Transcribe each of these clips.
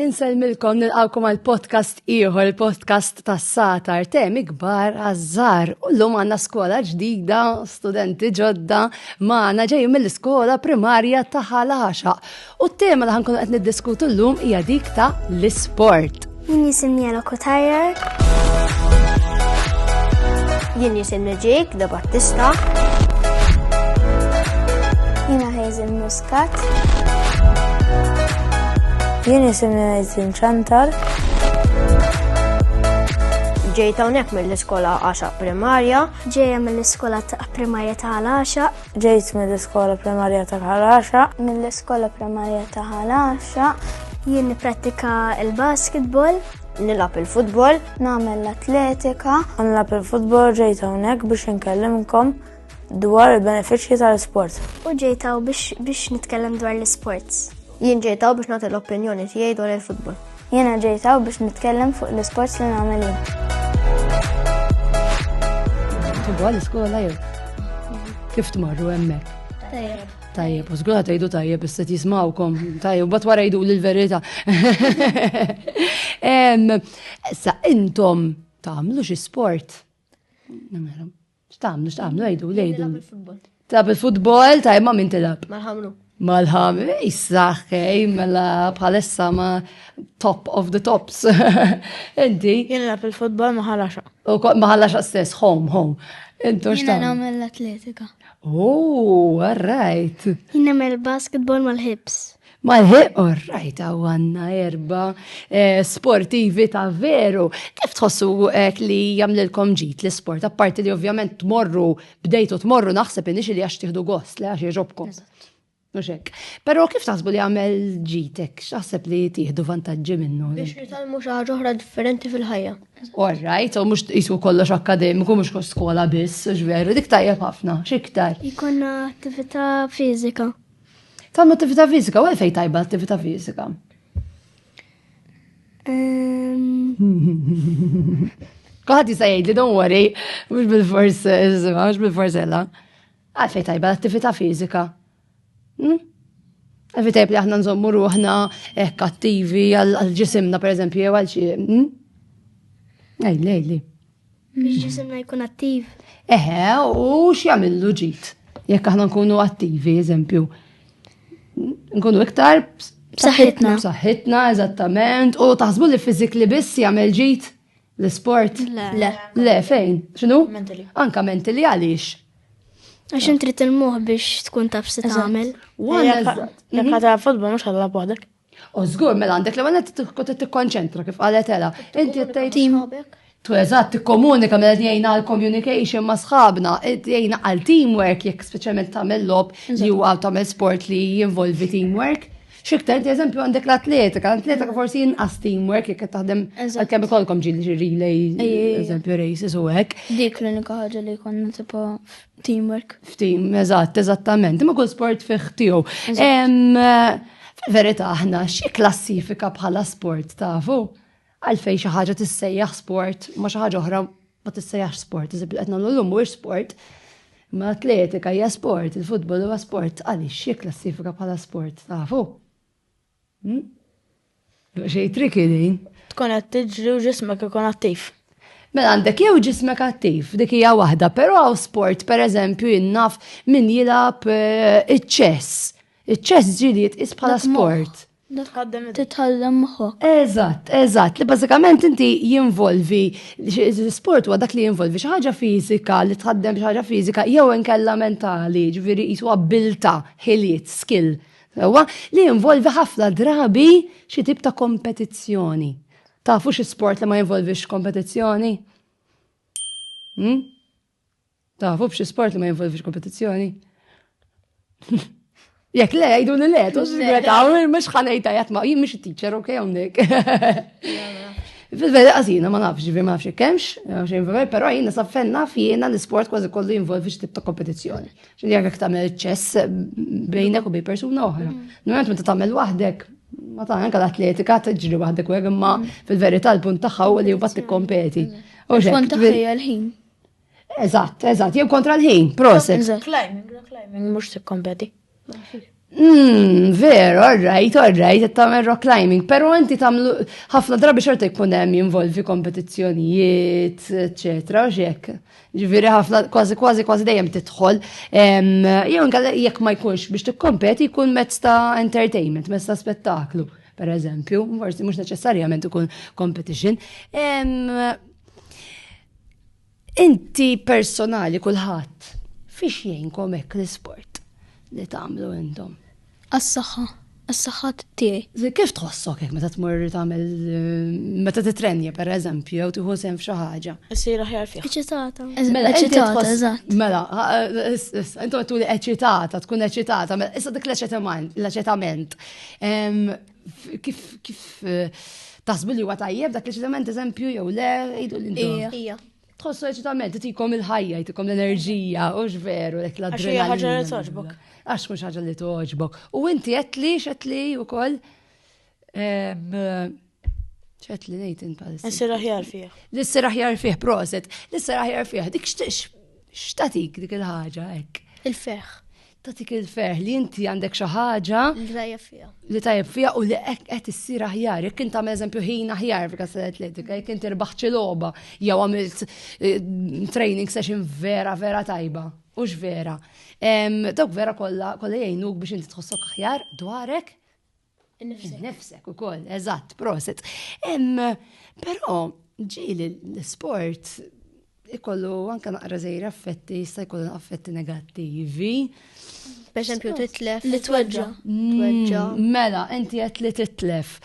Insellmilkom nilqawkom għal podcast ieħor, il-podcast tas satar temi kbar għażżar. U llum għandna skola ġdida, studenti ġodda, magħna ġejjin mill-iskola primarja ta' ħalaxa. U t-tema li ħankunu qed niddiskutu llum hija dik ta' l-isport. Jien jisimni Ella Kotajer. Jien jisimni Jake da Battista. Jina Hazel Muscat. Jien jisimni Hazel Chantal. Ġejta unek mill-iskola għaxa primarja. Ġeja mill-iskola ta' primarja ta' għaxa. Ġejt mill-iskola primarja ta' Ħal Għaxaq. Mill-iskola primarja ta' Ħal Għaxaq. Jien nipprattika l-basketball. Nilab il-futbol. Nagħmel l-atletika. Nilab il-futbol ġejt hawnhekk biex inkellimkom dwar il-benefiċċji tal-isport. U ġejtaw biex nitkellem dwar l-isports. Jien ġejtaw biex nagħti l-opinjoni tiegħi dwar il-futbol. Jiena ġejtaw biex nitkellem fuq l-isports li nagħmel jien. Tibwa l-iskola jew? Kif tmorru hemmhekk? Tajjeb. Tajjeb, u zgura tajdu tajjeb, isset jismawkom, tajjeb, bat wara jdu l-verita. Sa intom tamlu xi sport? X'tagħmlu, x'tagħmlu, għidu, għidu. Tilab il-futbol, ta' imma min tilab? Mal-ħamru. Mal-ħamru, eh, jissaħ, kej, mela bħalissa ma top of the tops. Inti? Jien nilab il-futbol maħalaxa. U maħalaxa stess, home, home. Intu x'tagħmlu? Jien nagħmel l-atletika. Oh, all right. Jien nagħmel basketball mal-hips. Malħiq, orrajt, għaw għanna erba eh, sportivi ta' veru. Kif tħossu għek eh, li jamlilkom ġit l-sport? Apparti li ovvjament tmorru, bdejtu tmorru naħseb inix li għax tiħdu gost, li għax jġobkom. Muxek. Pero kif taħsbu li għamel ġitek? Xaħseb li tiħdu vantaġġi minnu? Biex nitalmu xaħġa oħra differenti fil-ħajja. Orrajt, u mux jisu kollox akademiku, mux skola biss, ġveru, dik tajja ħafna, xiktar. Ikonna attività fizika. Tagħmlu attività fiżika, u għalfejn tajba attività fiżika? Kuħat jista' jgħid li don't worry, mhux bil-fors, mhux bil-fors ella. Għalfejn tajba l-attività fiżika. Hmm? Għalfejn tajb li aħna nżommu ruħna hekk eh, attivi għal-ġisimna pereżempju jew għal xi. Hmm? Ej, lejli. Biex ġisimna jkun attiv. Eħe, u x'jagħmillu ġid? Jekk aħna nkunu attivi, eżempju, nkunu iktar b'saħħitna. B'saħħitna, eżattament, u taħsbu li fizik li biss jagħmel ġid l-isport? Le. Le, fejn? X'inhu? Mentali. Anka mentali għaliex? Għax intri il-moħ biex tkun taf se tagħmel. Jekk mhm. ħadha futbol mhux ħadha waħdek. U żgur mela għandek l-ewwel qed tkun tikkonċentra kif qalet Ela. Inti qed tgħid Tu eżatt tikkomunika mela jgħinna għal communication ma' sħabna, jgħinna għal teamwork jekk speċjalment tagħmel lob li huwa tagħmel sport li jinvolvi teamwork. Xiktar, inti eżempju għandek l-atletika, l-atletika forsi jinqas teamwork jekk taħdem għal-kemm ikolkom ġil relays, eżempju races u hekk. Dik l-unika ħaġa li konna tipo Teamwork. F'team, eżatt, eżattament. Ma kull sport fih tiegħu. Fil-verità aħna xi klassifika bħala sport tafu? Għalfej xi ħaġa tissejjaħ sport ma xi ħaġa oħra ma tissejjaħ sport, iżib qed nagħmlu llum mhuwiex sport. Ma atletika hija sport, il-futbol huwa sport, għaliex xi klassifika bħala sport tafu? Hmm? Xej triki din. Tkun qed tiġri u ġismek ikun attiv. Mela għandek jew ġismek attiv, dik hija waħda, però hawn sport pereżempju jinnaf min jilgħab eh, iċ-ċess. Iċ-ċess ġieli jitqis bħala sport. Titħallem moħħok. Eżatt, eżatt, li bażikament inti jinvolvi sport huwa dak li jinvolvi xi ħaġa fiżika li tħaddem xi ħaġa fiżika jew inkella mentali, ġifieri jisu abbilta, ħiliet, skill Sewwa, li jinvolvi ħafna drabi xi tip ta' kompetizzjoni. Tafu xi sport li ma jinvolvix kompetizzjoni? Hmm? Tafu b'xi sport li ma jinvolvix kompetizzjoni? Jek le, jgħidu li le, tu s-sigreta, mux ħanajta jatma, jim mux teacher, ok, għondik. Fil-veri għazina, ma nafx, ġivi ma nafx kemx, pero jina saffenna fjena l-sport kważi kollu jinvolvi xtib ta' kompetizjoni. Ġifieri jekk jekk tagħmel ċess bejnek u bej persuna oħra. Mm. Normalment meta tagħmel waħdek ma ta' anka l-atletika tiġri waħdek u imma mm. fil-verità l-punt tagħha u li mbagħad tikkompeti. U xekk. l-ħin. Eżatt, eżatt, jew kontra l-ħin, proset. Climbing, climbing, mhux tikkompeti. Mmm, veru, orrajt, orrajt, qed tagħmel rock climbing, però inti tagħmlu ħafna drabi xorta jkun hemm jinvolvi kompetizzjonijiet, eċetera, u x'hekk. Ġifieri ħafna kważi kważi kważi dejjem tidħol. Jew inkella jekk ma jkunx biex tikkompeti jkun mezz ta' entertainment, mezz ta' spettaklu, pereżempju, forsi mhux neċessarjament ikun competition. Inti personali kulħadd, fiex jgħinkom hekk l-isport li tagħmlu intom? Għas-saħħa, għas-saħħa tiegħi. Kif tħossok hekk meta tmur tagħmel meta titrenja pereżempju jew tieħu sehem f'xi ħaġa? Issir aħjar fih. Eċitata. Mela, eċitata, eżatt. Mela, intom tuli eċitata, tkun eċitata, mela issa dik l-eċitament, l-eċitament. Kif kif eh, taħsbu li huwa tajjeb dak l-eċitament eżempju jew le jgħidu l-intom. Ija. Tħossu eċitament, tikom il-ħajja, tikom l-enerġija, u veru dak l-adrenalina. Għax hija ħaġa li toġbok. Għax mhux ħaġa li toġbok. U inti qed li x'qed li wkoll ċet li nejt inta. Nissir aħjar fih. Nissir aħjar fih, proset. Nissir aħjar fih. Dik xtatik dik il-ħagġa, ek. Il-feħ. tatik il-ferħ li inti għandek xi ħaġa li tajjeb fiha. Li tajjeb fiha u li qed issir aħjar. Jekk int għamel eżempju ħin aħjar fil kas atletika, jekk inti rbaħt xi logħba jew għamilt eh, training session vera vera tajba. Ux vera. Dawk vera kollha kollha jgħinuk biex inti tħossok aħjar dwarek Innifsek ukoll, eżatt, proset. Però ġieli l-sport ikollu anka naqra żejr affetti, jista' jkollu affetti negattivi. Per esempio, titlef. Li tweġġa. Tweġġa. Mm, mela, inti qed li titlef.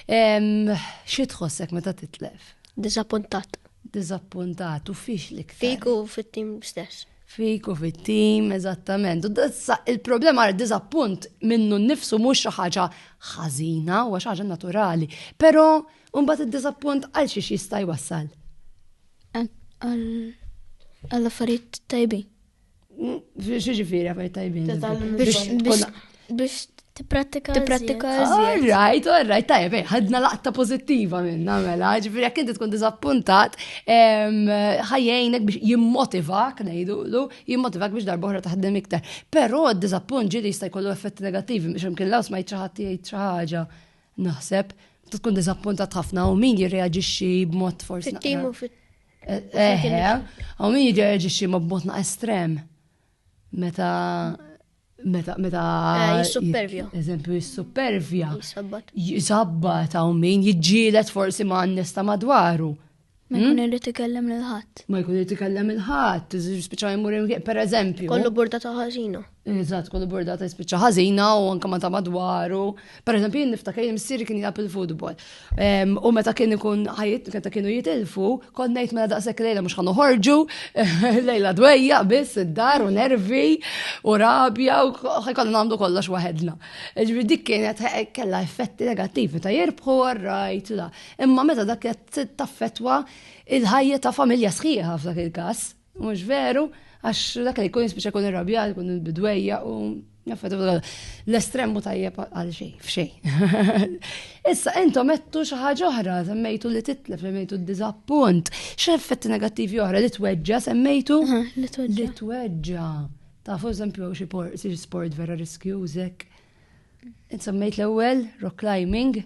Xi tħossek meta titlef? Disappuntat. Disappuntat u fiex li Fiku fit-tim stess. Fik u fit-tim, eżattament. U dazza il-problema għal diżappunt minnu nnifsu mhux xi ħaġa ħażina, huwa xi ħaġa naturali. Però mbagħad id-diżappunt għal xiex jista' jwassal. Għal affarijiet tajbin. Xi ġifieri affarijiet tajbin? Biex tipprattika. Tipprattika. All right, all right, tajjeb, eh, ħadna laqta pozittiva minna mela, ġifiri jekk inti tkun diżappuntat, ħajjejnek biex jimmotivak, ngħidulu, jimmotivak biex darbohra taħdem iktar. Però d-diżappunt ġieli jista' jkollu effetti negattivi biex imkien laws ma jitraħat jgħid xi ħaġa. Naħseb, tkun diżappuntat ħafna u min jirreaġixxi b'mod forsi. Fit-tim u fit- Eħe, eh, eh, u min jirreaġixxi ma' b'mod na' estrem. Meta meta meta eh, jissupervja. Eżempju jissupervja. Jisabbat. Jisabbat hawn min jiġġielet forsi ma' nista madwaru. Ma jkun hmm? irid ikellem lil ħadd. Ma jkun irid ikellem il ħadd, spiċċa jmur per eżempju. Kollu burdata ħażina. Eżatt, kollu burdata spiċċa ħażina u anke ma ta' madwaru. Per eżempju, jien niftakar jien missieri kien jgħab il-futbol. Ehm, u meta kien ikun ħajt, meta kienu jitilfu, kont ngħid mela daqshekk lejla mhux ħanu ħorġu, lejla dwejja biss id-dar u nervi u rabja u ħajkollu nagħmlu kollox waħedna. Ġifieri dik kienet kellha effetti negattivi ta' jirbħu għarrajt la. Imma meta dak qed taffetwa il-ħajja ta' familja sħiħa f'dak il-każ. Mhux veru, għax dak li jkun jispiċċa jkun irrabjat, jkun il-bidwejja u l-estremu tajjeb għal xej, f'xej. Issa, intom mettu xi ħaġa oħra, semmejtu li titlef, semmejtu d-diżappunt, x'effetti negattivi oħra li tweġġa, semmejtu li tweġġa. Tafu eżempju xi sport vera riskjużek Insemmejt l-ewwel, rock climbing,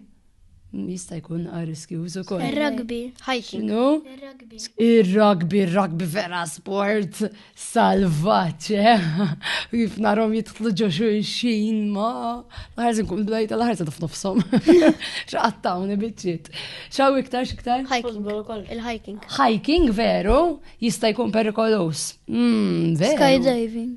jista' jkun riskjuż ukoll. Ir-rugby, hiking. No? Ir-rugby, ir-rugby vera sport salvaġġ, eh? Kif narhom jidħlu ġo xulxin ma l-ħarż nkun blajt l-ħarż taf nofshom. X'qattawni biċċiet. Xaw iktar x'iktar? Hiking. Il-hiking. Hiking veru jista' jkun perikoloż. Hmm, skydiving.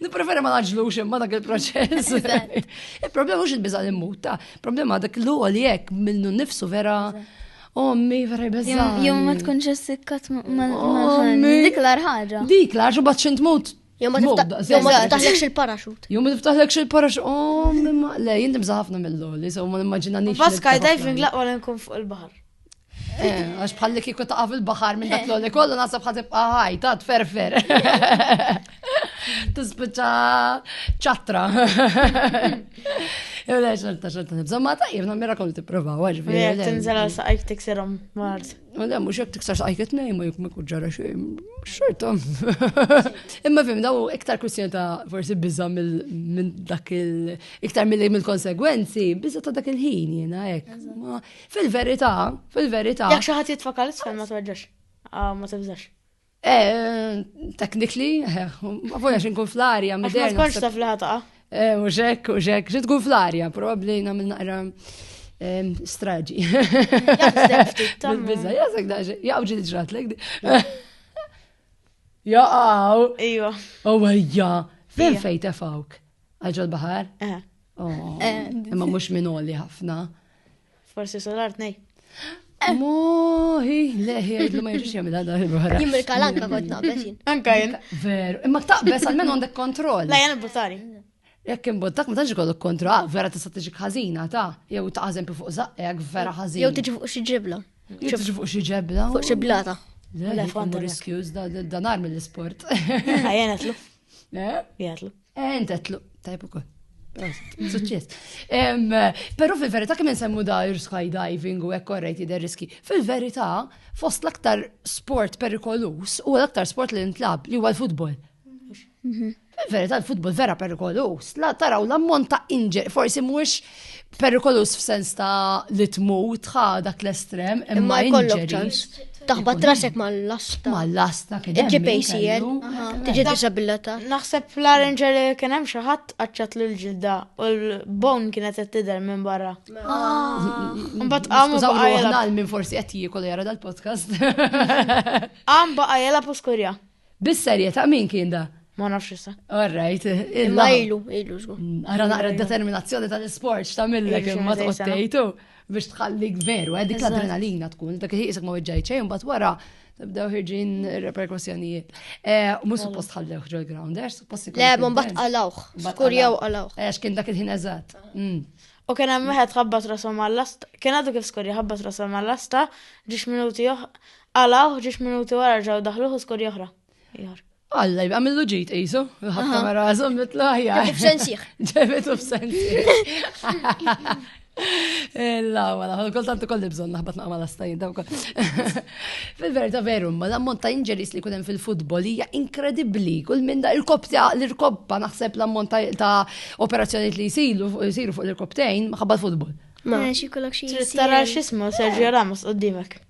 Nipreferi ma naġlux imma dak il-proċess. Il-problema mhux il-biża li muta, problema dak l li jekk minnu nifsu vera. Ommi, vera jbeżza. Jom ma tkunx essikkat ma. Dik l ħaġa. Dik l-arħaġa bat xint mut. Jom ma tiftaħlekx il-paraxut. Jom ma tiftaħlekx il-paraxut. Ommi, ma. Le, jinti bżaħafna mill-loli, so ma nimmaġina nix. Bas skydiving laqwa l-nkun fuq il-bahar. Eh, għax bħalli kiku taqaf il-bahar minn dak l-għoli kollu nasab ħatib għahaj, ta' tferfer. Tispiċa ċatra. Ew lex għalta xalta nibżom ma ta' jibna mirakol t-prova, għax bi. Tinżel għal saqajk tikserom mart. Ma da, mux jek tikser saqajk t-nej, ma jek ma kuġġara xej, xorta. Imma fim, daw iktar kwestjoni ta' forsi bizza minn dak il- iktar mill-konsegwenzi, bizza ta' dak il-ħin jena, ek. Fil-verità, fil-verità. Jekk xi ħadd jitfa' kalz fejn ma tweġġax. Ah, ma tibżax. Eh, technically, eh, ma funax nkun fl-arja. Ma tkunx taf li ħataqa. Eh, u xek, u xek, xi tkun fl-arja, probabbli nagħmel naqra straġi. Bizza, jazak daġi, jaqw ġil ġrat l Jaqaw. Ejwa. U għajja, fin fej tefawk? Għagġol bahar? Oh, eh. Imma mux minoli ħafna. Forsi solar tnej. Moħi, leħi, għidlu ma jirġiċi għamil għadha il-barra. Jimmi l-kalanka kont naqbes jinn. Anka jinn. Veru, imma taqbes għal-men għandek kontroll. La, jgħan buttari. Jekk imbottak ma tantx ikollok kontroll, ah, vera tista' tiġi ħażina ta' jew ta' eżempju fuq zaqqek vera ħażin. Jew tiġi fuq xi ġibla. Jew tiġi fuq xi ġebla. Fuq xi blata. Riskjuż da nar mill-isport. Ħajja netlu. Eh? Jgħatlu. Eh, intetlu, tajb ukoll. Suċċess. Però fil-verità kemm insemmu da skydiving u hekk korrejt jidher riski. Fil-verità, fost l-aktar sport perikolus u l-aktar sport li ntlab li huwa l-futbol. Mhm. Fil-verità l-futbol vera perikolus. La taraw l-ammont ta' injury, forsi mhux Perikolus f'sens ta' li tmut tħa dak l-estrem imma jkollok ċans. Taħba trasek mal-lasta. Mal-lasta kien. Il-GPCL. Tiġi disabilita. Naħseb fl-arranġer li kien hemm xi ħadd qaċċat lil ġilda u l-bone kienet qed tidher minn barra. Ah. Mbagħad qam baqgħu minn forsi qed jiekol jara dal-podcast. Qam baqgħu jela poskurja. Bis-serjetà min kien da? Ma nafx issa. All right. Imma ilu, ilu żgur. Mm, ara naqra d-determinazzjoni tal-isport x'tagħmillek imma tqottejtu biex tħallik veru, eh, dik l-adrenalina tkun, dak iħisek ma weġġajt xejn, bat wara tibdew ħirġin reperkussjonijiet. Eh, u mhux suppost ħallewh ġol ground, eh, suppost ikun. Le, ma mbagħad qalawh, skur jew qalawh. Għax kien dak il-ħin eżatt. Mm. U kien hemm wieħed ħabbat rasom għall-lasta, kien għadu kif skur jħabbat rasom għall-lasta, ġiex minuti Qalawh ġiex minuti wara ġew daħluh u skorja oħra. Alla, jibqa millu ġit qisu, ħabta ma rażhom mitlu aħjar. Ġebitu f'sensiħ. Ġebitu f'sensiħ. Illa, għala, kultant u kolli bżon naħbat naqma l-astajin daw kol. Fil-verita veru, ma l-ammont ta' inġeris li kunem fil-futbol hija inkredibli. Kull minn da il-kopja l-irkoppa naħseb l-ammont ta' operazzjoni li jisiru fuq l-irkoptejn maħabba l-futbol. Ma, xie kollok xie. Tara xismu, Sergio Ramos, qoddimek.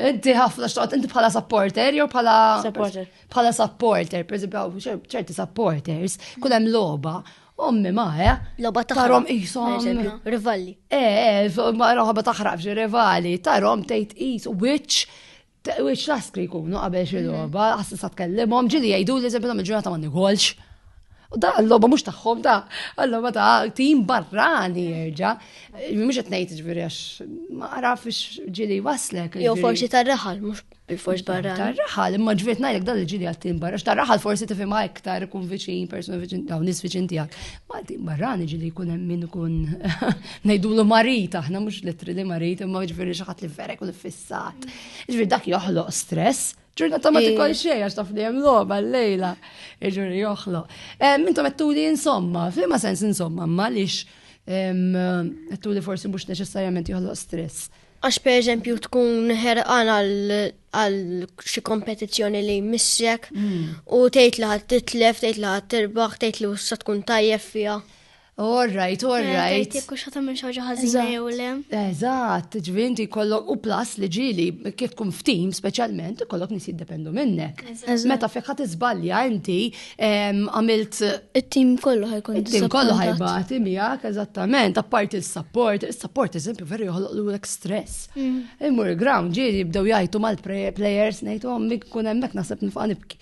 Inti ħafna xtaqt, inti bħala supporter, jew bħala. Supporter. Bħala supporter, per eżempju, ċerti supporters, kull hemm logħba, ommi ma, eh? Logħba taħrom ishom. Rivalli. Eh, eh ma roħba taħrab xi rivali, tarom tgħid is which which laskri jkunu qabel xi mhm. logħba, ħassisa tkellimhom, ġili jgħidu li eżempju nagħmel ġurnata ma nigolx. U da l-loba mux taħħom da, l-loba ta' tim barrani jirġa. Mux etnejt ġviri għax ma għaraf ġili waslek. Jo forsi ta' raħal, mux bil-fors barra. Ta' raħal, imma ġviri najlek da l-ġili għal tim barra. Ta' raħal forsi tifima iktar kun viċin, persona viċin, daw nis viċin tijak. Ma tim barrani ġili kun min kun najdu l marit, aħna mux litri li marit, imma ġviri xaħat li vera kun fissat. Ġviri dak joħloq stress. Ġurnata ma tikol xej, għax taf li jem loba l-lejla, iġuri joħlo. Mintu għettu li insomma, fima sens insomma, ma lix għettu li forsi mux neċessarjament joħlo stress. Għax per eżempju tkun ħerqan għal xi kompetizzjoni li missek hmm. u tgħid li ħadd titlef, tgħid li ħadd tirbaħ, tgħid li wissa tkun tajjeb fiha. All right, all eh, right. Jekk hux ħatam minn xaġa ħażina jew le. Eżatt, ġvinti jkollok u plus li ġili kif tkun f'tim speċjalment ikollok nies jiddependu minnek. Meta fik ħadd iżbalja inti għamilt it-tim kollu ħajkun it-tim kollu ħajbati miegħek eżattament, apparti s-support, is-support eżempju veru joħloq lulek stress. Mm. Immur ground ġieli jibdew jgħajtu mal-players ngħidhom mik kun hemmhekk naħseb nifqa' nibki.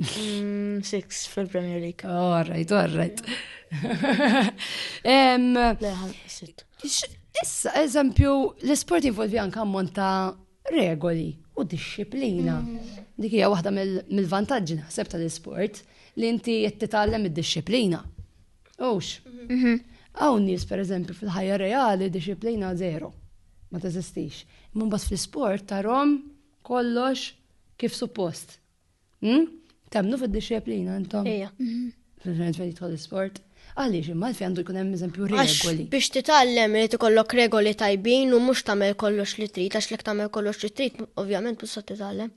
Mm, six fil-Premier League. Oh, all right, all right. Issa, eżempju, l-sport involvi anka ammont ta' regoli u disċiplina. Mm. Dik hija waħda mill-vantaġġi naħseb tal-isport li inti qed titgħallem id-disċiplina. Ux. Mhm. Hawn nies pereżempju fil-ħajja reali disċiplina zero. Ma teżistix. Imma mbagħad fl-isport tarhom kollox kif suppost. Hmm? Temnu fid-disciplina intom? Ija. Fil-ġenet fejn jidħol sport Għaliex imma fi għandu jkun hemm eżempju regoli. Biex titgħallem li tikollok regoli tajbin u mhux tagħmel kollox li trid għax lek tagħmel kollox li trid, ovvjament mhux se titgħallem.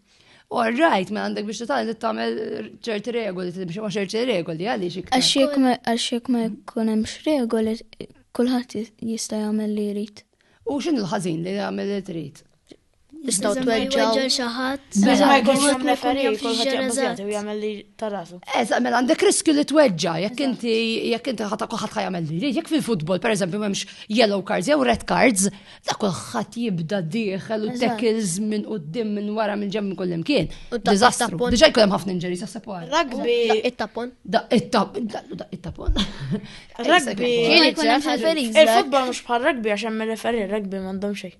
All right, ma għandek biex titgħallem tagħmel ċerti regoli, biex ma ċerti regoli għaliex iktar. Għax jekk ma jkun hemmx regoli, kulħadd jista' jagħmel li jrid. U x'in il-ħażin li jagħmel li trid? Istaw tweġġaw xi ħadd. Biża ma jkunx hemm referi, kulħadd jaqbżjati u jagħmel li tarasu. Eżatt, mela għandek riskju li tweġġa' jekk inti jekk inti ħadd kulħadd jagħmel li jrid. Jekk fil-futbol pereżempju m'hemmx yellow cards jew red cards, ta' kulħadd jibda dieħel u tackles minn qudiem minn wara minn ġemm kull imkien. Diżastru. Diġà jkun hemm ħafna injuries għas sepwar. Rugby. It-tapon. It-tapon. Rugby. Il-futbol mhux bħal rugby għax hemm referi, rugby m'għandhom xejn.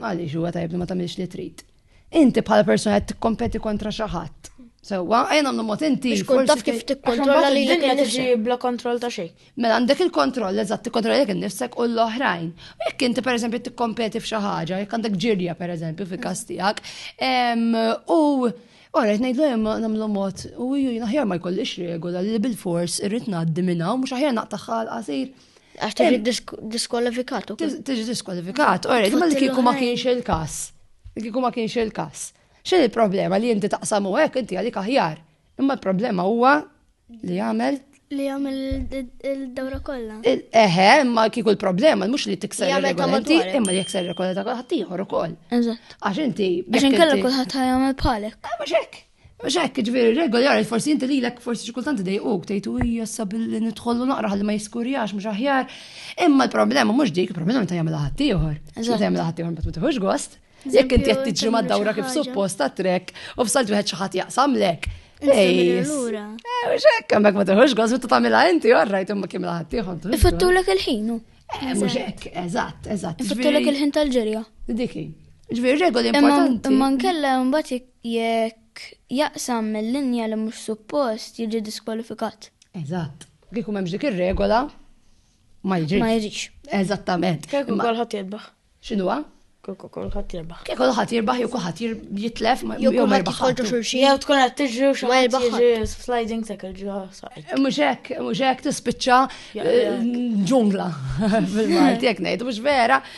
Għaliex huwa tajjeb li ma tagħmilx li trid. Inti bħala persuna qed tikkompeti kontra xi ħadd. Sewwa, ejn għamlu mod inti. Biex kun taf kif tikkontrolla li l-dinja tiġi bla kontroll ta' xejn. Mela għandek il-kontroll eżatt tikkontrolla jekk innifsek u l-oħrajn. U jekk inti pereżempju tikkompeti f'xi ħaġa, jekk għandek ġirja pereżempju fil-każ tiegħek, u Ora, jtnajd l namlu mod, u ju jinaħjar ma jkollix regola li bil-fors irrit naddi minna, u mux aħjar naqtaħħal qasir. Għax tiġi diskwalifikat u Tiġi diskwalifikat, orri, ma li kiku ma kienx il-kas. Li kiku ma kienx il-kas. X'in il-problema li inti taqsam u hekk inti għalik aħjar. Imma l-problema huwa li jagħmel li jagħmel il-dawra kollha. Eħe, imma kieku l-problema mhux li tikser regolanti, imma li jekser regolanti ta' ħaddieħor ukoll. Eżatt. Għax inti. Għax inkella kulħadd ħajjagħmel bħalek. Ah, mhux hekk. Mhux hekk, ġifieri r-regoli għarajt forsi inti lilek forsi xi kultant idejquk tgħid u hija sab li nidħollu naqra ħalli ma jiskurjax mhux aħjar. Imma l-problema mhux dik, il-problema meta jagħmilha ħadd ieħor. Meta jagħmilha ħadd ieħor ma tiħux gost. Jekk inti qed tiġri mad-dawra kif suppost ta' trek u f'salt wieħed xi ħadd jaqsamlek. Ejs. Eh, mhux hekk hemmhekk ma tiħux gost meta tagħmilha inti orrajt imma kemm ħadd ieħor. Ifattulek il-ħin. Eh, mhux hekk, eżatt, eżatt. Ifattulek il-ħin tal-ġerja. Diki. Ġifieri regoli importanti. Imma nkella mbagħad Jekk jaqsam mil-linja li mhux suppost jiġi diskwalifikat. Eżatt. Kieku m'hemmx dik ir-regola ma jiġix. Ma jiġix. Eżattament. Kieku kulħadd jirbaħ. X'inhuwa? Kieku kulħadd jirbaħ. Kieku kulħadd jirbaħ jew kulħadd jitlef jew ma jirbaħ. Jew tkun qed tiġri u xi ħadd jiġi sliding tackle ġo saqajk. Eh, mhux hekk, mhux hekk tispiċċa eh, ġungla fil-Malti jekk ngħid, mhux vera.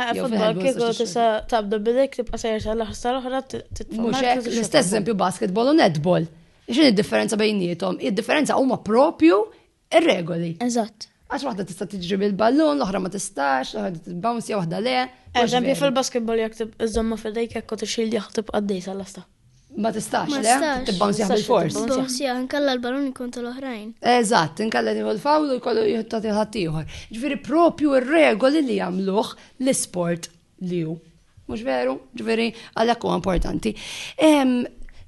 Futbol kieku tista' tabda bidek tibqa' sejjer sa l-aħħar sa l-oħra titmux. L-istess eżempju basketball u netball. X'in id-differenza bejnietom? Id-differenza huma propju ir-regoli. Eżatt. Għax waħda tista' tiġri bil-ballun, l-oħra ma tistax, l-oħra tibbounce, waħda le. Eżempju fil-basketball jekk iżomma fidejk jekk u tixil jaħtib għaddej sal-lasta. Ma tistax, le? Tibbansjaħ bil-fors. Tibbansjaħ, nkalla l-balon ikun tal-oħrajn. Eżatt, nkalla nieħu l-fawl u jkollu jħottat il-ħadd ieħor. Ġifieri propju r-regoli li jagħmluh l-isport li hu. Mhux veru? Ġifieri għalhekk huwa importanti.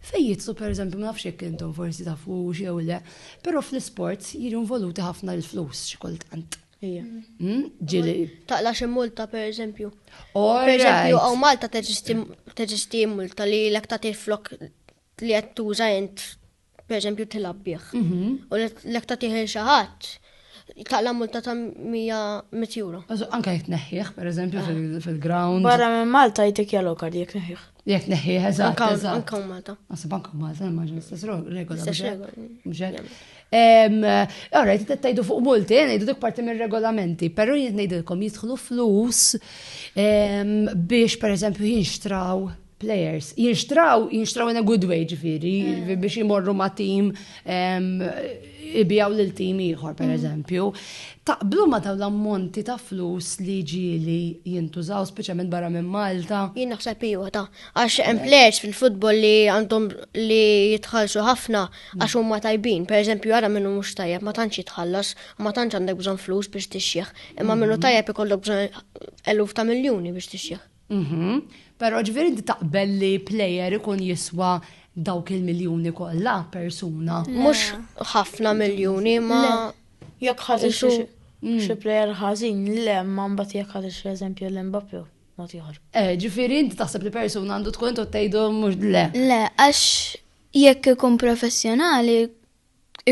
Fej jitsu per eżempju, ma nafx jekk intom forsi tafu jew le, però fl-isports jiġu involuti ħafna l-flus xi kultant. Hmm? Taqla xi multa per eżempju. Per eżempju, għaw Malta teġisti multa li l-ek ta' flok li għed tuża jent per eżempju tilabbieħ. Mhm. U l-ek ta' tiħil xaħat taqla multa ta' 100 euro. Anka jitneħħiħ, per eżempju, ah. fil-ground. Barra minn Malta jtik jaloka li jitneħħiħ. Li qed neħħieħ eżatt. Anka Malta. Nasib anka Malta, ma ġin istess regola. Istess regola. Ora, jt tajdu fuq multi, jgħidu dik parti minn regolamenti, pero jgħid ngħidilkom jidħlu flus biex per eżempju jinxtraw players. Jinxtraw, jinxtraw in a good way ġifiri, mm. biex jimorru ma' team ibijaw lil tim ieħor pereżempju, mm. taqblu ma dawn l-ammonti ta' flus li ġieli jintużaw speċjalment barra minn Malta. Jien naħseb iwa ta' għax hemm players fil-futbol li għandhom li jitħallsu ħafna għax huma tajbin. Pereżempju ara minnu mhux tajjeb ma tantx jitħallas u ma tantx għandek bżonn flus biex tixjieħ. Imma minnu mm-hmm. tajjeb ikollok bżonn eluf ta' miljuni biex tixjieħ. Mhm. Però ġifieri inti taqbel li plejer ikun jiswa dawk il-miljuni kollha persuna. Mhux ħafna miljuni ma jekk ħaġa xi mm. xi plejer ħażin le ma mbagħad jekk ħaġa xi eżempju l-Mbappe ma tieħor. Eh, ġifieri inti taħseb li persuna għandu tkun tgħidu mhux le. Le, għax jekk ikun professjonali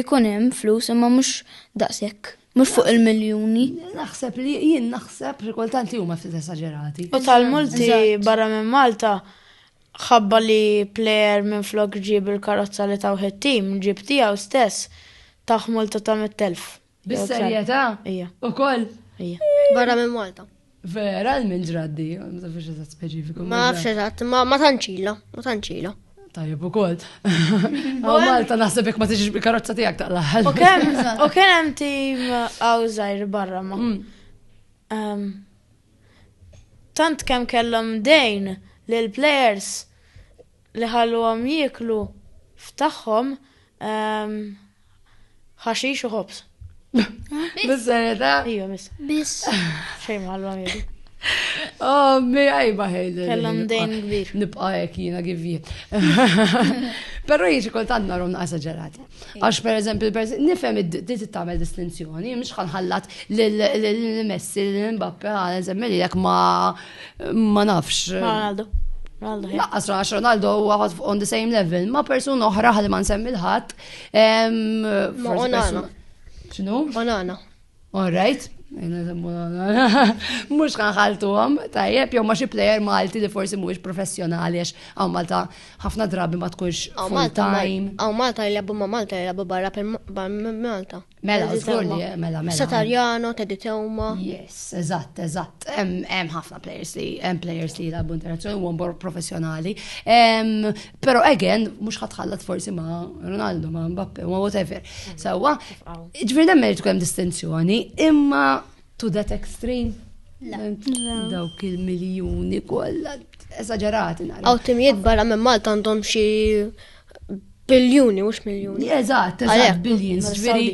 Ikun hemm flus imma mhux daqshekk. Mhux fuq il-miljuni. Naħseb li jien naħseb li kultant li huma ftit esaġerati. U tal-multi barra minn Malta ħabba li plejer minflok ġieb il-karozza li tawh it-tim, ġieb tiegħu stess, tawh multa ta' 100,000. Bis-serjetà? Ija. Ukoll? Ija. Barra minn Malta. Vera, minn ġraddi, ma nafx eżatt speċifiku. Ma nafx eżatt, ma tanċila, ma tanċila. Tajjeb u kol. Għaw Malta naħseb jek ma tiġiġ bil-karozza tijak ta' laħal. U kem, u kem hemm tim għawżajr barra ma. Mm. Tant kem kellhom dejn l-players li ħalluhom jieklu f'tagħhom ehm, ħaxix u ħobs. Bis-serjetà? Ija, miss. Biss. Xejn ma ħalluhom jieklu. Oh, mi għajba ħejda. Kellhom dejn kbir. Nibqa' hekk jiena givji. Però jiġi kultant narom naqsa ġelat. Għax per eżempju, nifhem li tagħmel distinzjoni, mhux ħallat l-Messi, l-Mbappe, għal eżempju, li jekk ma Ma nafx. Ronaldo. Laqqas rax Ronaldo huwa on the same level ma' persuna oħra ħalli ma nsemmi l-ħadd. Ma' Onana. X'nu? Onana. All right. Mux ħanħaltu għom, tajjeb, jom ma xie player Malti li forsi mux professjonali, għax għaw Malta ħafna drabi ma tkunx full time. Għaw Malta jgħabu ma Malta jgħabu barra per Malta. Mela, żgur li mela mela. Satarjano, Teddy Teuma. Yes, eżatt, eżatt. Hemm ħafna players li hemm players li jilagħbu internazzjonali u mbor professjonali. Però again mhux ħatħallat forsi ma' Ronaldo, ma' Mbappe, ma' whatever. Sewwa, ġifieri hemm irid hemm distinzjoni, imma to that extreme. Dawk il-miljuni kollha esaġerati nara. Għaw timijiet barra minn Malta għandhom xi Biljuni, mux miljoni. Eżat, eżat, billions, ġviri.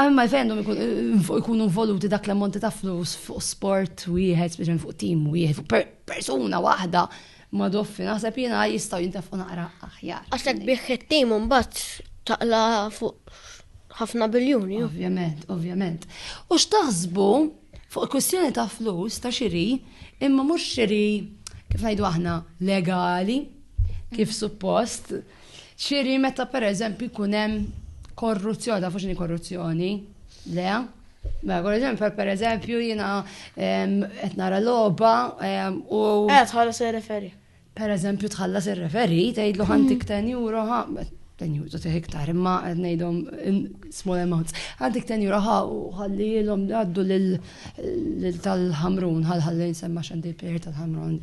Għamma jfendum ikunu involuti dak l-ammonti ta' flus fuq sport wieħed, speċjalment fuq tim wieħed, fuq persuna waħda ma doffi naħseb jiena jistgħu jintafu naqra aħjar. Għaxek bieħ it-tim mbagħad taqla fuq ħafna biljuni. Ovvjament, ovvjament. U x'taħsbu Fuq il-kwistjoni ta' flus ta' xiri, imma mhux xiri kif ngħidu aħna legali, kif suppost, xiri meta pereżempju jkun hemm korruzzjoni, ta' fuxini korruzzjoni, le? Ma mela, eżempju, per eżempju, jina qed nara logħba u. Qed ħala se referi. Per eżempju tħallas ir-referi, tgħidlu ħantik 10 mm. euro ħa, 10 euro tieħ iktar, imma qed ngħidhom small amounts. Ħantik 10 euro ħa u ħallilhom għaddu lil tal-ħamrun, ħal ħalli nsemma xandi l-plejer tal-ħamrun.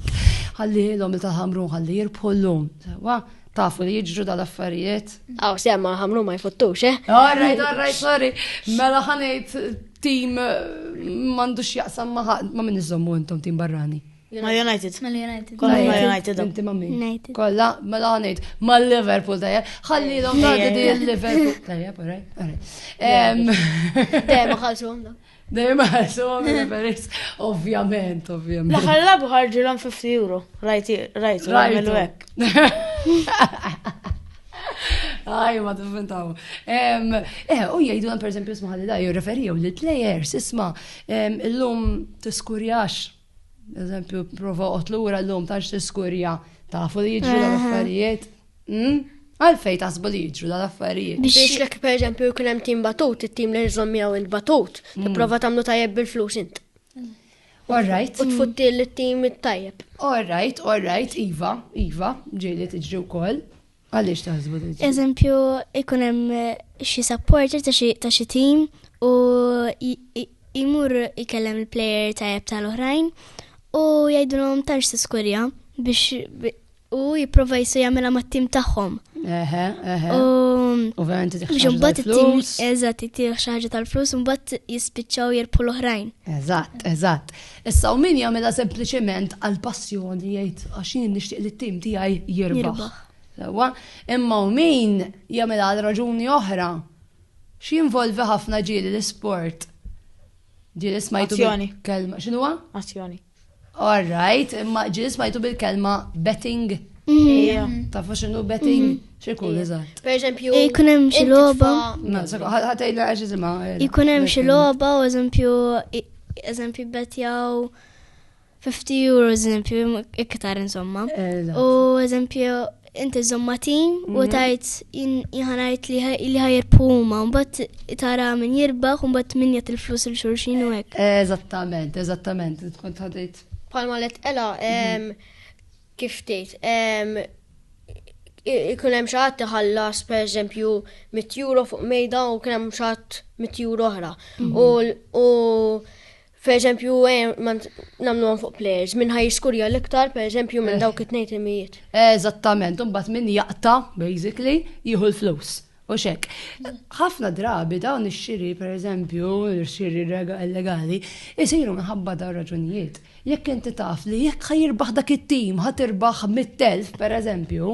Ħallilhom il tal-ħamrun ħalli jirbħu llum. Wa, tafu li jiġru dal-affarijiet. Aw, semma ħamrun ma jfottux, eh? All right, all right, sorry. Mela ħanejt tim eh, mandux jaqsam ma minn iżommu intom tim barrani. Ma United. Ma United. Kolla ma United. Inti ma min. United. Kolla ma la ngħid. Ma Liverpool tajja. Ħalli l-om tagħti di Liverpool. Tajja, pare. Dejjem ħalsu għamda. Dejjem ħalsu għamda Ovvjament, ovvjament. L-aħħar labu ħarġu l-om 50 euro. Rajt, rajt, rajt. Aj, ma t-fintaw. Eh, u jgħidu għan per esempio smaħalli da, jirreferi jew li t-lejers, isma, l-lum t-skurjax Eżempju, prova otlura l-lum ta' xtiskurja ta' fu li jġu eh. l-affarijiet. Hmm? Għalfej tasbu li jġu l-affarijiet. Biex l per eżempju, jkun hemm tim batut, it-tim li jżomm miegħu int batut, hmm. tipprova tagħmlu tajjeb bil-flus int. All right. U tfutti l-tim it-tajjeb. All right, all right, Iva, Iva, ġieli tiġri wkoll. Għaliex taħsbu diġi? Eżempju, ikun hemm xi supporter ta' xi tim u jmur ikellem il-player tajjeb tal-oħrajn u jgħidulhom tantx tiskurja biex u jipprova jisu jagħmilha mat-tim tagħhom. Eħe, eħe. U verament biex imbagħad it-tim eżatt itih xi ħaġa tal-flus u mbagħad jispiċċaw jirbħu l-oħrajn. Eżatt, eżatt. Issa u min jagħmilha sempliċement għal passjoni jgħid għax jien nixtieq li t-tim tiegħi jirbaħ. Sewwa, imma u min jagħmilha għal raġuni oħra x'jinvolvi ħafna ġieli l-isport. Ġieli smajtu kelma x'inhuwa? Azzjoni. All right, imma ġieli smajtu bil-kelma betting. Tafu x'inhu betting? Xikun, eżatt. Per eżempju. Ikun hemm xi logħba. Ħatejla għax isimha. Ikun hemm xi logħba u eżempju eżempju betjaw 50 euro eżempju iktar insomma. U eżempju inti żomma tim u mhm. tajt jħanajt li ħajr puma, mbatt tara minn jirbaħ, mbatt minn jgħat il-flus il-xurxin u għek. Eżattament, eżattament, tkun tħadajt. Palma let ela, mhm. Kif tgħid? Ikun hemm xi ħadd iħallas pereżempju mitt euro fuq mejda u kien hemm xi ħadd mitt euro oħra. U pereżempju nagħmluhom fuq players minn ħaj jiskurja l-iktar pereżempju minn dawk it-tnejn timijiet. Eżattament, imbagħad min jaqta' basically jieħu l-flus. U xek, ħafna drabi dawn ix-xiri, per eżempju, xiri illegali, isiru minħabba dawn raġunijiet. Jekk inti taf li jekk ħajirbaħ dak it-tim, ħatirbaħ mit-telf, per eżempju,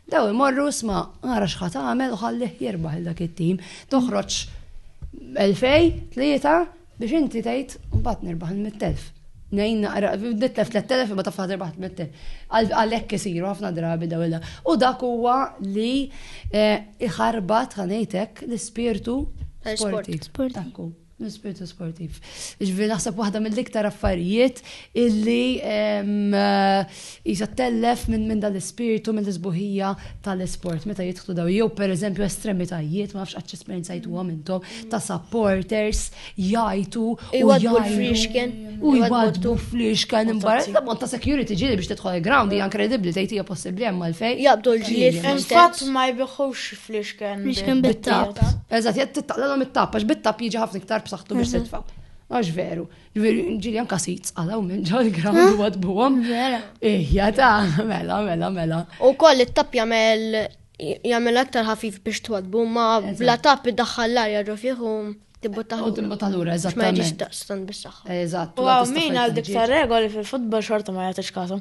daw imorru sma, għara xħat għamel u ħallih jirbaħ dak it-tim, toħroġ 2000, 3, Biex inti tgħid mbagħad nirbaħ il-mittelf. Nejn naqra, nitlef 3000 imma taf ħadir baħt mittel. Għalhekk isiru ħafna drabi daw il U dak huwa li eh, iħarbat ħanejtek l-ispirtu sportiv. Sportiv. L-ispirtu sportiv. Ġvi naħseb waħda mill-iktar affarijiet illi eh, Qisha ttellef minn dan l-ispirtu, minn l-isbuħija tal-isport meta jidħlu dawn. Jew pereżempju estremitajiet, ma nafx qatt esperjenzajtuhom intom, ta' supporters jgħajtu u jgħajtu. U jgħajtu fl-ixken imbarra. Ta' bont ta' security ġieli biex tidħol il-ground hija inkredibbli tgħid hija possibbli hemm għalfejn. Jaqbdu l-ġlied. Infatti ma jbiħux fl-ixken. Fl-ixken bit-tap. Eżatt, jgħid tittaqlalhom it-tap għax bit-tap jiġi ħafna iktar b'saħħtu biex titfa'. Għax veru. Ġiri anka si tsqalaw minn ġol gram u għadbuħom. Mela. Ija ta' mela, mela, mela. U koll it-tap jamel jamel aktar ħafif biex twadbu ma bla tap id-daħħal l-arja ġo fiħu tibbu taħu. U tibbu taħu l-ura, eżatt. Ma ġiġ daqstan bis-saxħa. Eżatt. U għaw min għal dik ta' regoli fil-futbol xorta ma jgħatix kasu.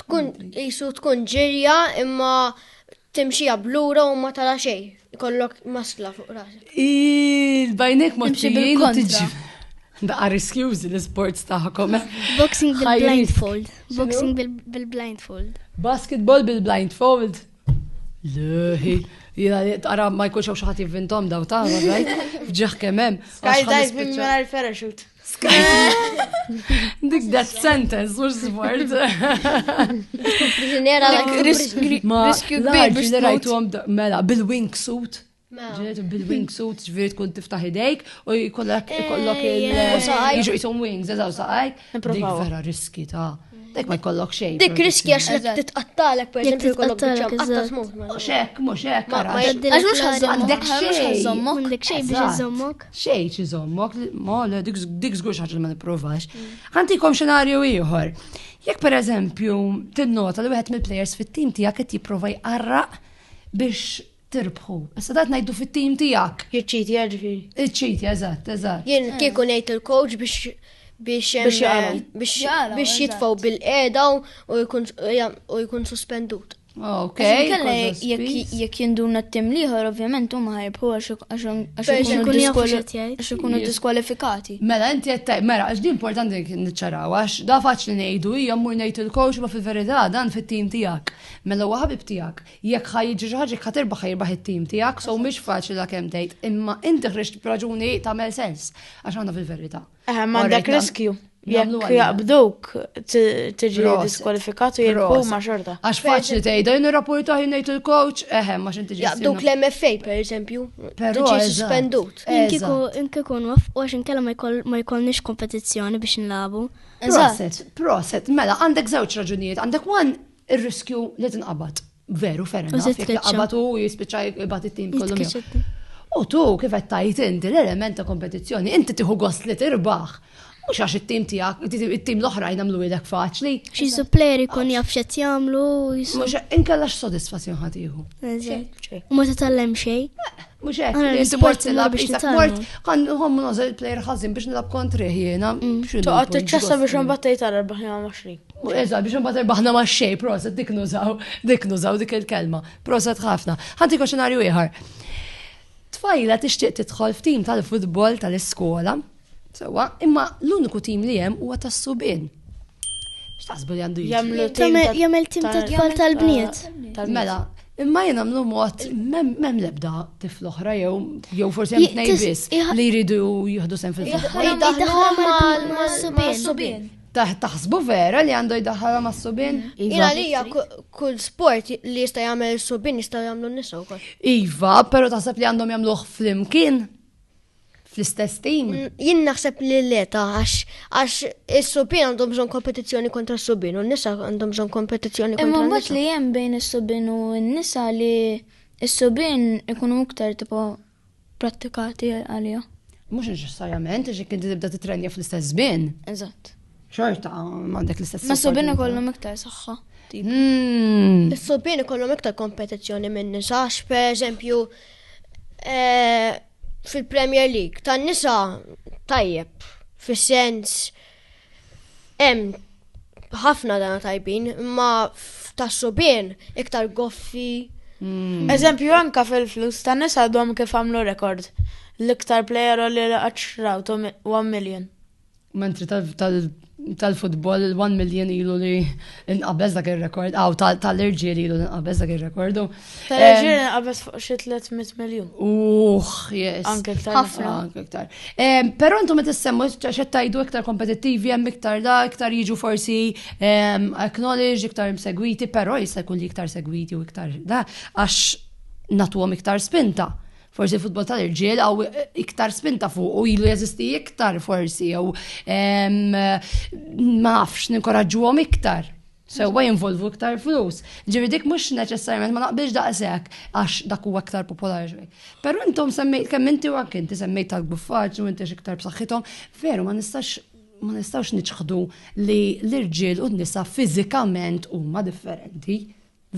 Tkun qisu tkun ġirja imma timxija blura u ma tara xejn. Ikollok masla fuq rasek. Il-bajnek ma timxi bil-kontra. Daqqa riskjużi l-sports taħkom. Eh? Boxing bil-blindfold. Boxing bil-blindfold. Basketball bil-blindfold. Leħi, jina li tara ma jkunx xaħti vintom daw ta' għaj, ġeħ kemem. Skydiving mela l-parachute. Dik that sentence u s-sfort. Priġuniera la riskju kbir biex rajtu għom mela bil-wingsuit. Mela. Ġenetu bil-wingsuit ġviri tkun tiftaħ idejk u jkollok il-jiġu jisom wings, eżaw saqajk. Dik vera riski ta' Dek ma jkollok xejn. Dik riski għax li titqattalek per eżempju jkollok biċċa qatta smut. Mhux hekk, mhux hekk. Għax mhux għandek xejn. Għandek xejn biex iżommok. Xejn xi żommok, mole dik żgur xi ħaġa li ma nipprovax. Għandikom xenarju ieħor. Jekk per eżempju tinnota li wieħed mill-plejers fit-tim tiegħek qed jipprova jqarraq biex tirbħu. Issa dat ngħidu fit-tim tiegħek. Iċċitja ġifieri. Iċċitja, eżatt, eżatt. Jien eh. kieku ngħid il-coach biex biex biex jitfaw bil-qeda u jkun suspendut. Ok. Jekk jinduna t-tim liħor, ovvjament, u maħarb, u għax ikunu diskwalifikati. Mela, inti għettaj, mela, għax di importanti nċaraw, għax da faċ li nejdu, jgħammur nejt il-coach, ma fil-verita, dan fit-tim tijak. Mela, u għabib tijak. Jekk ħa jiġri xi ħaġa jekk ħa tirbaħ ħa jirbaħ it-tim tiegħek, so mhix faċli dak hemm tgħid, imma inti ħriġt b'raġuni tagħmel sens għax għandha fil-verità. Eh, m'għandek riskju. Jekk jaqbduk tiġi diskwalifikat u jekk ma xorta. Għax faċli tgħidha jien irrapportaħ jien ngħid il-coach, eħe ma x'inti ġi. Jaqbduk l-MFA pereżempju, tiġi suspendut. Inkieku inkieku nwaffqu għax inkella ma jkollniex kompetizzjoni biex nlabu. Proset, proset, mela għandek żewġ raġunijiet, għandek one Ir-riskju li tinqabad. Veru, ferra, naf, jek jinqabad u jispiċċa jibgħat it-tim kollu. U tu, kif qed tajt inti l-element ta' kompetizzjoni, inti tieħu gost li tirbaħ. Mhux għax it-tim tiegħek, it-tim l-oħra jnamlu ilek faċli. Xi supplier ikun jaf x'qed jagħmlu. Mhux inkella x'sodisfazzjon ħatiħu. U ma titgħallem xejn. Mux hekk, li jinti mort tilab biex ta' mort, għan nħom nażel il-player ħazin biex nilab kontri ħjena. Mm. Toqgħod tiċċassa biex imbagħad tgħid għal erbaħna ma' xejn. Eżatt, biex imbagħad erbaħna ma' xejn, proset dik nużaw, dik nużaw dik il-kelma. Proset ħafna. Ħanti xenarju ieħor. Tfajla tixtieq tidħol f'tim tal-futbol tal-iskola Sewa, imma l-uniku tim li hemm huwa tas-subien. X'taħsbu li għandu jagħmlu tim jagħmel tim ta' tfal tal-bniet. Mela, imma jien għamlu mod m'hemm l-ebda tifl oħra jew jew forsi hemm tnejn biss li jridu jieħdu sem fil-futbol. mal-subien. Taħsbu vera li għandu jdaħħala ma' subin? Mm. Ina li kull sport li jista' jagħmel subin jista' jagħmlu nisa wkoll. Iva, però taħseb li għandhom jagħmluh flimkien? fl-istess tim? Jien naħseb li le ta' għax għax is-subien għandhom bżonn kompetizzjoni kontra s-subien u n-nisa għandhom bżonn kompetizzjoni kontra Imma mbagħad li hemm bejn is-subien u n-nisa li s-subien ikunu iktar tipo prattikati għalija. Mhux neċessarjament, għax jekk inti tibda titrenja fl-istess żmien. Eżatt. Xorta m'għandek l-istess. Ma subin ikollhom iktar saħħa. Hmm. Is-subin ikollhom iktar kompetizzjoni minn nisa, per eżempju, eh, fil-Premier League tan-nisa tajjeb fis-sens hemm ħafna dana tajbin, imma tas-subien iktar goffi. Hmm. Eżempju anka fil-flus tan-nisa għadhom kif għamlu rekord. L-iktar player li qatt xrawtu 1 million. Mentri tal-futbol il-1 million ilu li inqabeż dak il-rekord, għaw tal-irġiel ilu li inqabeż dak il-rekord. Tal-irġiel inqabeż fuq xi 300 miljon. Uħ, yes. Anke ktar. Ħafna, anke ktar. Pero intom qed issemmu xed tajdu iktar kompetittivi hemm iktar da, iktar jiġu forsi acknowledge, iktar segwiti, pero jista' jkun li iktar segwiti u iktar da, għax natuhom iktar spinta. forsi l-futbol tal-irġiel għaw iktar spinta fuq u ilu jeżisti iktar forsi jew ma nafx ninkoraġġuhom iktar. Sewa jinvolvu iktar flus. Ġivi dik mhux neċessarjament ma naqbilx daqshekk għax dak huwa iktar popolari xejn. Però intom semmejt kemm inti u anke inti semmejt tal-guffaċ u inti iktar b'saħħithom, veru ma nistax ma nistawx niċħdu li l-irġiel u n-nisa fiżikament huma differenti.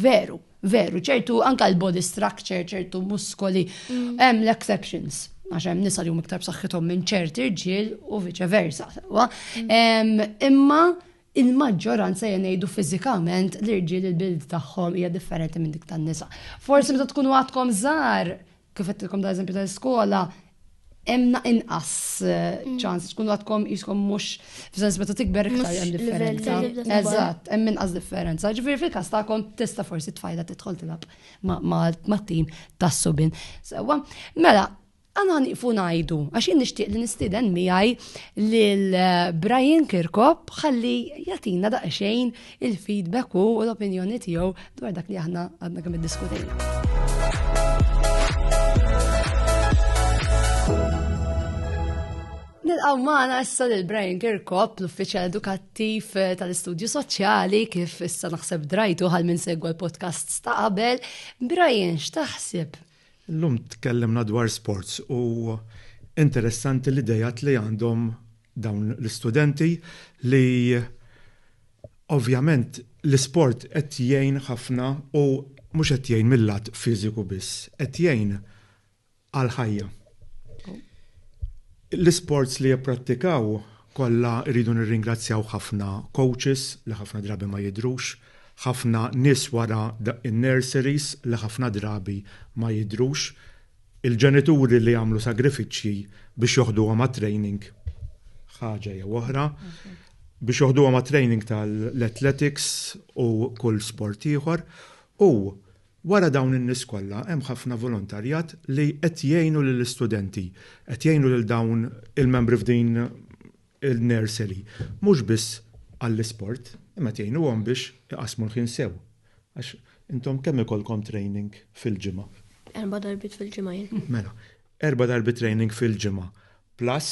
Veru, veru, ċertu anka l-body structure, ċertu muskoli, mm. hemm l-exceptions għax hemm nisa li hum iktar b'saħħithom minn ċerti rġiel u viċe versa. Mm. Imma il-maġġoranza jenejdu fiżikament l-irġiel il-bild tagħhom hija differenti minn dik tan-nisa. Forsi meta tkunu għadkom żgħar Kif għedtilkom da eżempju tal-iskola, hemm inqas eh, mm. ċans tkunu għadkom jiskom mhux f'sens meta tikber iktar hemm differenza. Eżatt, hemm inqas differenza. Ġifieri fil-każ tagħkom tista' forsi tfajda tidħol tilab ma' tim tas-subin. Sewwa, mela, għana niqfu najdu, għax jien nishtiq li nistiden miħaj lil eh, Brian Kirkop ħalli jatina daqxejn il-feedback u l-opinjoni tiegħu dwar dak li aħna għadna kemm iddiskutejna. Nilqaw maħna issa l Brian Kirkop, l-uffiċjal edukattiv eh, tal-istudju soċjali, kif issa naħseb drajtu għal minn segwa l-podcast ta' qabel. Brian, x'taħseb? L-lum tkellimna dwar sports u interessanti l-idejat li għandhom dawn l-istudenti li ovvjament l-isport qed jgħin ħafna u mhux qed jgħin mil-lat fiżiku biss, qed jgħin għall-ħajja. L-isports li jipprattikaw kollha rridu nirringrazzjaw ħafna coaches li ħafna drabi ma jidhrux, ħafna nies wara in-nurseries li ħafna drabi ma jidhrux, Il-ġenituri li jagħmlu sagrifiċċji biex joħduhom għat-training, ħaġa jew oħra, biex joħduhom għat-training tal-athletics u kull sport ieħor, u wara dawn in-nies kollha hemm ħafna volontarjat li qed jgħinu lill-istudenti, qed jgħinu lil dawn il-membri f'din il-nursery, mhux biss għall-isport, imma qed jgħinuhom biex iqassmu l-ħin sew. Għax intom kemm ikollkom training fil-ġimgħa? Erba' darbiet fil-ġimgħa jien. Mela, erba' darbiet training fil-ġimgħa, plus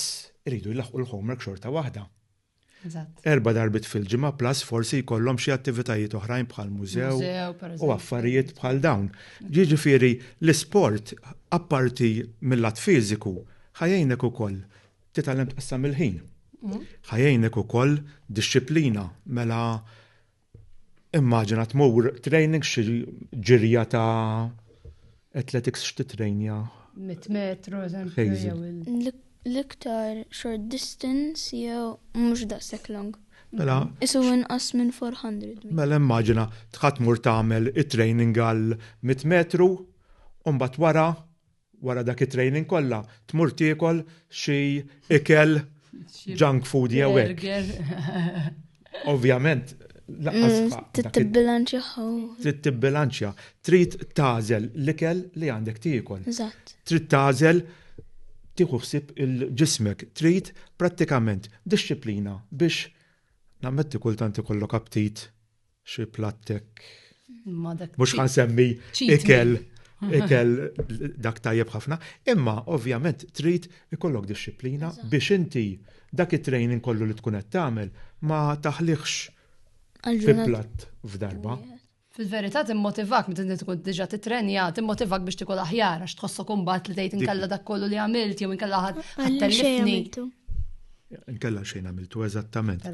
iridu jlaħħqu l-homework xorta waħda. Eżatt. Erba' darbiet fil-ġimgħa plus forsi jkollhom xi attivitajiet oħrajn bħal mużew Mużew, per u eżempju. affarijiet bħal dawn. Jiġifieri l-isport apparti mill-lat fiżiku ħajjejnek ukoll Titgħallem tqassam il-ħin. Mm. Ħajjejnek ukoll dixxiplina mela immaġina tmur training xi ġirja ta' athletics x'titrejnja. Mit metru, eżempju. L-iktar short distance jew mhux daqshekk long. Mela. Isu inqas minn 400. Mela immaġina tħadd mur tagħmel it-training għal 100 metru u mbagħad wara wara dak it-training kollha tmur tiekol xi ikel junk food jew hekk. Ovvjament laqqas mm, Trid tibbilanċja. Trid tibbilanċja. Trid tażel l-ikel li għandek tiekol. Eżatt. Trid tażel tieħu ħsieb il-ġismek. Trid prattikament disċiplina biex nammetti kultant ikollok aptit Xi plattek. Mhux ħan semmi ikel ikel dak tajjeb ħafna, imma ovvjament trid ikollok disċiplina biex inti dak it-training kollu li tkun qed tagħmel ma taħliħx fi platt f'darba. Fil-verità timmotivak meta inti tkun diġà titrenja, timmotivak biex tikol aħjar għax tħossok imbagħad li tgħid inkella dak kollu li għamilt jew inkella ħadd tellifni. Inkella xejn għamiltu eżattament.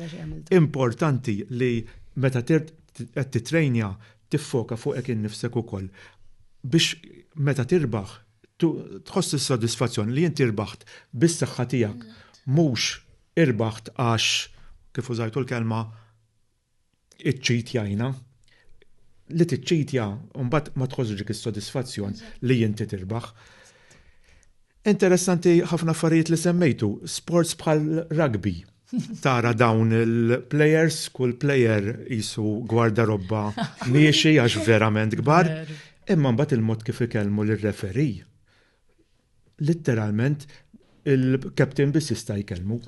Importanti li meta qed titrejnja tiffoka fuqek innifsek ukoll biex meta tirbaħ tħoss is-sodisfazzjoni li inti rbaħt bis-saħħa tiegħek mhux irbaħt għax kif użajtu l-kelma iċċitjajna, li tiċċitja mbagħad ma tħossx dik is-sodisfazzjon li inti tirbaħ. Interessanti ħafna affarijiet li semmejtu, sports bħal rugby. Tara dawn il-players, kull player jisu gwarda robba miexi għax verament kbar, imma mbagħad il-mod kif ikellmu lir-referi. Litteralment il-captain biss jista' jkellmu.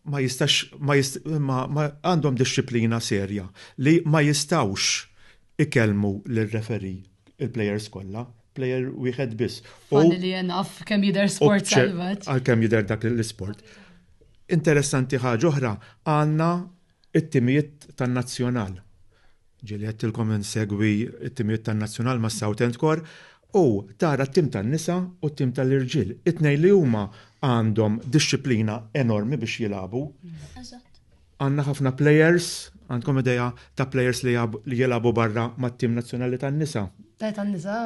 ma jistax ma jist, ma, ma għandhom disċiplina serja li ma jistawx ikellmu l-referi il-plejers kollha, plejer wieħed biss. Falli li jenaf kemm jidher sport salvat. Għal kemm jidher dak l-isport. Interessanti ħaġa oħra, għandna It-timijiet tan-Nazzjonal. Ġieli għedtilkom insegwi t-timijiet tan-Nazzjonal mas-Southend Corps u tara t-tim tan-nisa u t-tim tal-irġiel. It-tnejn li huma għandhom dixxiplina enormi biex jilagħbu. Għandna ħafna plejers, għandkom idea ta' plejers li jilagħbu barra mat-tim nazzjonali tan-nisa? Le tan-nisa.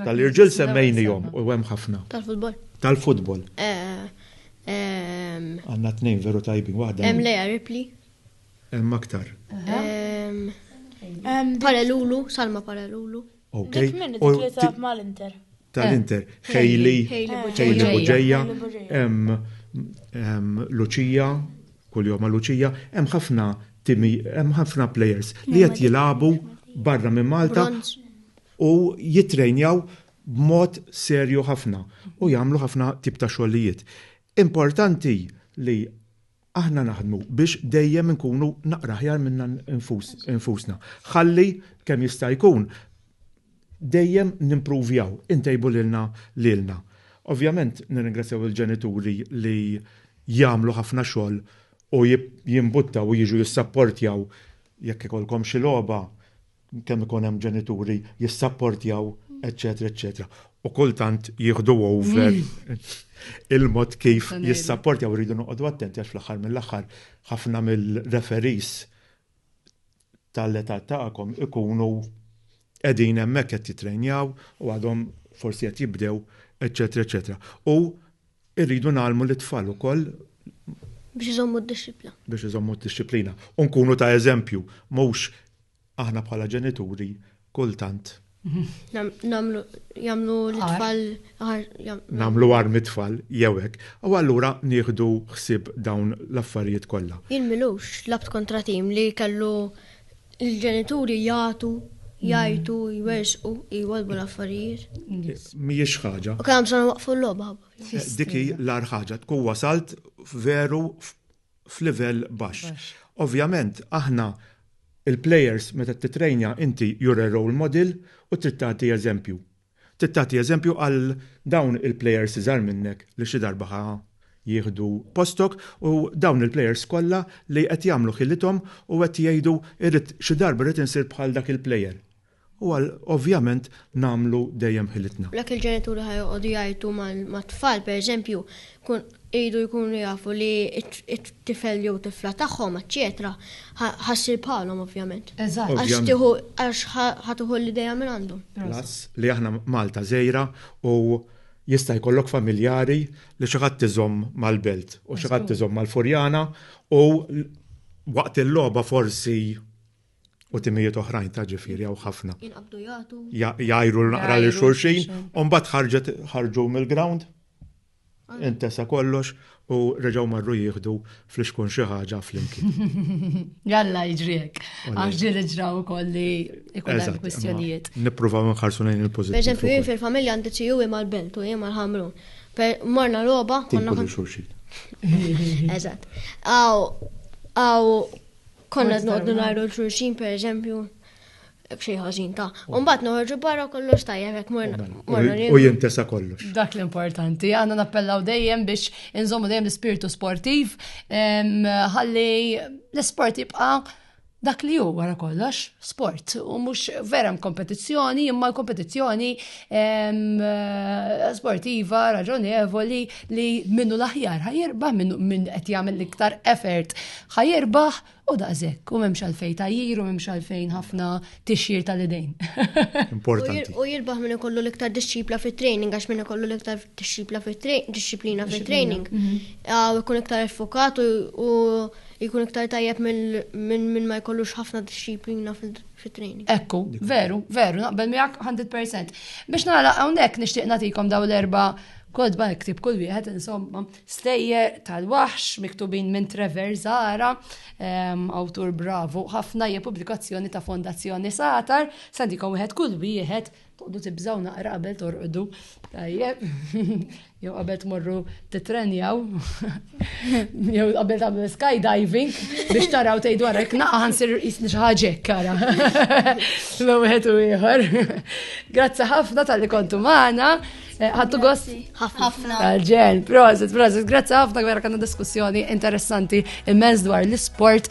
Tal-irġiel semmejnihom u hemm ħafna. Tal-futbol. Tal-futbol. Għanna tnejn veru tajbin waħda. Em Lea Ripley. Em aktar. Paralulu, Salma Paralulu. Ok. U mal-Inter. Tal-Inter. Hailey. Hailey Buġeja. Em Lucia. Kull jom Lucia. Em ħafna timi, em ħafna players li qed jilagħbu barra minn Malta u jitrejnjaw b'mod serju ħafna u jagħmlu ħafna tip ta' xogħlijiet. Importanti li aħna naħdmu biex dejjem inkunu naqra aħjar minna nfusna. Ħalli kemm jista' jkun dejjem nimpruvjaw, intejbu lilna lilna. Ovvjament nirringrazzjaw il-ġenituri li jagħmlu ħafna xogħol u jimbuttaw u jiġu jissapportjaw jekk ikollkom xi logħba, kemm ikun hemm ġenituri jissapportjaw, eċċetera, eċċetera. U kultant jieħdu over il-mod kif jissapportjaw rridu noqogħdu attenti għax fl-aħħar mill-aħħar ħafna mill-referis tal-età tagħkom ikunu qegħdin hemmhekk qed jitrejnjaw u għadhom forsi qed jibdew, eċċetera, eċċetera. U Irridu ngħallmu lit-tfal ukoll Biex iżommu d-dixxiplina. biex iżommu d-dixxiplina. U nkunu ta' eżempju, mhux aħna bħala ġenituri kultant Nam- Namlu, jamlu l-tfal, ħar, jam- nagħmlu għar mit-tfal jew hekk. U allura nieħdu ħsieb dawn l-affarijiet kollha. Jien milux labt kontra tim li kellu Il-ġenituri jagħtu, jgħajtu, jwersqu, jwolbu l-affarijiet. Mhijiex ħaġa. U kemm sena waqfu l-logħba. Dik hi l-ar ħaġa tkun wasalt veru f'livell baxx. Ovvjament aħna il-plejers meta titrejnja inti jura role model u trid tagħti eżempju. Trid tagħti eżempju għal dawn il-plejers iżgħar minnek li xi darba ħa jieħdu postok u dawn il-plejers kollha li qed jagħmlu ħilithom u qed jgħidu irrid xi darba rrid insir bħal dak il-plejer u għal ovvjament nagħmlu dejjem ħilitna. Jekk il-ġenituri ħa joqogħdu jgħajtu mat-tfal pereżempju tkun iridu jkunu jafu li t-tifel jew tifla tagħhom eċċetera ħa ssir bħalhom ovvjament. Eżatt. Għax tieħu għax ħa tieħu l-idea minn għandhom. Plus li aħna Malta żgħira u jista' jkollok familjari li xi ħadd iżomm mal-Belt u xi ħadd iżomm mal-Furjana u waqt il-logħba forsi u timijiet oħrajn ta' ġifiri għaw ħafna. Jinqabdu jgħatu. Jgħajru l-naqra li xurxin, un bat ħarġet ħarġu mill-ground, ah. intesa kollox u reġaw marru jieħdu fl-iskun xi ħaġa flimkien. Jalla jiġriek, għax ġieli ġraw ukoll li ikun hemm kwistjonijiet. Nippruvaw nħarsu lejn il-pożittiv. Eżempju, jien fil-familja għandi xi u mal belt u jien mal-ħamru. Morna logħba. Tinkulu xulxin. Eżatt. Aw, aw, Konna noqdu najru l-xurxin, per eżempju, bxej ħażin ta' Umbat noħorġu barra kollox ta' jek morna. U jintesa kollox. Dak l-importanti, għanna nappellaw dejjem biex inżommu dejjem l-spirtu sportiv, ħalli l-sport jibqa' dak li hu wara kollox sport u mhux vera kompetizzjoni imma l-kompetizzjoni sportiva raġonevoli li minnu l-aħjar ħajirbaħ, minn qed jagħmel l-iktar effort ħajirbaħ u daqshekk u m'hemmx għalfejn tajjir u m'hemmx għalfejn ħafna tixjir tal-idejn. Importanti. U jirbaħ minn ikollu l-iktar disċipla fit-training għax minn ikollu l-iktar disċipla fit-disciplina fit-training. Mhm. Ikun iktar effokat u jkun iktar tajjeb minn ma jkollux ħafna disċiplina fit-training. Ekku, veru, veru, naqbel miegħek 100%. Biex nagħlaq hawnhekk nixtieq nagħtikom daw l-erba' Kotba iktib kull wieħed insomma stejjer tal-waħx miktubin minn Trevor Zara, ehm, awtur bravu ħafna hija pubblikazzjoni ta' Fondazzjoni Satar, sandikom wieħed kull wieħed toqdu tibżaw naqra qabel torqdu. Tajjeb, jew qabel tmorru titrenjaw. Jew qabel tagħmlu skydiving biex taraw tgħidu wara jekk naqa' ħansir jisni xi ħaġa kara. Ma wieħed u ieħor. Grazzi ħafna tal-li kontu magħna. Eh, ħattu gost? Ħafna. Ġen, prosit, prosit. Grazzi ħafna vera kanna diskussjoni interessanti immens dwar l-sport.